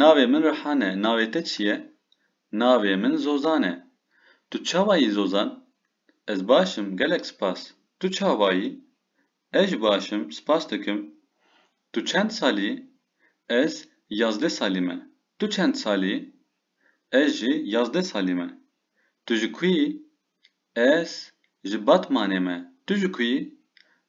Navê min Rihan e, navê te çi ye? Navê min Zozan e. Tu çawa yî Zozan? Ez baş im, gelek spas. Tu çawa yî? Ez jî baş im, spas dikim. Tu çend salî yî? Ez yazdeh salî me. Tu çend salî yî? Ez jî yazdeh salî me. Tu ji ku yî? Ez ji Batmanê me. Tu ji ku yî?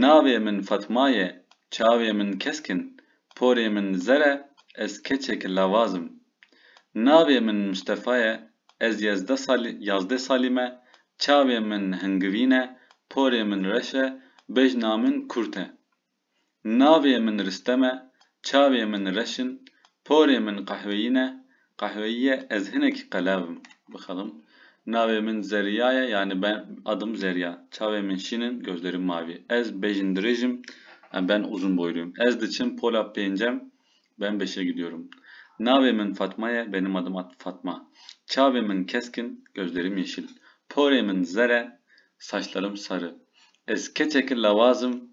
Navê min Fatma ye, çavê min kesk in, porê min zer e, ez keçek lavaz im. Navê min Mistefa ye, ez yezdeh sal yazdeh salî me, çavê min hingivîn e, porê min reş e, bejna min kurt e. Navê min Ristem e, çavê min reş in, porê min qehweyî ne, qehweyî ye, ez hinekî qelev im, bixelim. Navê min Zerrîya ye, yanî ben adım Zerrîya, çavê min şîn in, gözlerim mavî. Ez bejn dirêj im, em ben uzun boyluyum. Ez diçim pola pêncem, ben beşe gidiyorum. Navê min Fatma ye, benim adım Fatma. Çavê min kesk in, gözlerim yeşil. Porê min zer e, saçlarım sarı. Ez keçeki lewaz im,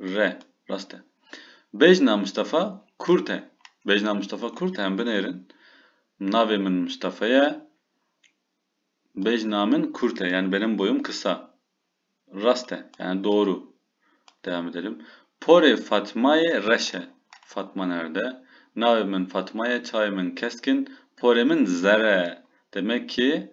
re. Rast e. Bejna Mistefa kurt e. Bejna Mistefa kurt e. Em binêrin. Navê min Mistefa ye. Bejna min kurt e. Yani benim boyum kısa. Rast e. Yani doğru. Devam edelim. Porê Fatmayê reş e. Fatma nerede? Navê min Fatma ye. Çayê min keskin. Porê min zere. Demek ki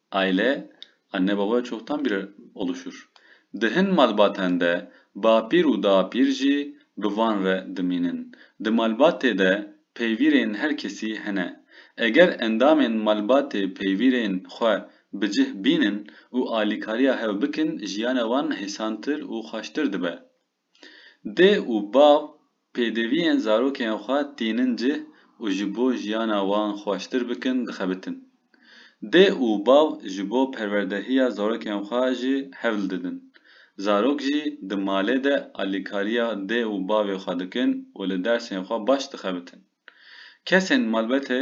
Aile, anne baba çoktan bir oluşur. Di hin malbaten de bapîr û dapîr jî bi van re dimînin. Di malbatê de peyvîrên her kesî hene. Eger endamên malbatê peyvîrên xwe bi cih bînin û alîkariya hev bikin jiyana wan hêsantir û xweştir dibe. Dê û bav pêdiviyên zarokên xwe tînin cih û ji bo jiyana wan xweştir bikin dixebitin. Dê û bav ji bo perwerdehiya zarokên xwe jî hewl didin. Zarok jî di malê de alîkariya dê û bavê xwe dikin û li dersên xwe baş dixebitin. Kesên malbetê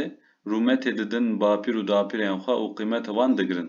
rûmetê didin bapîr û dapîrên xwe û qîmeta wan digirin.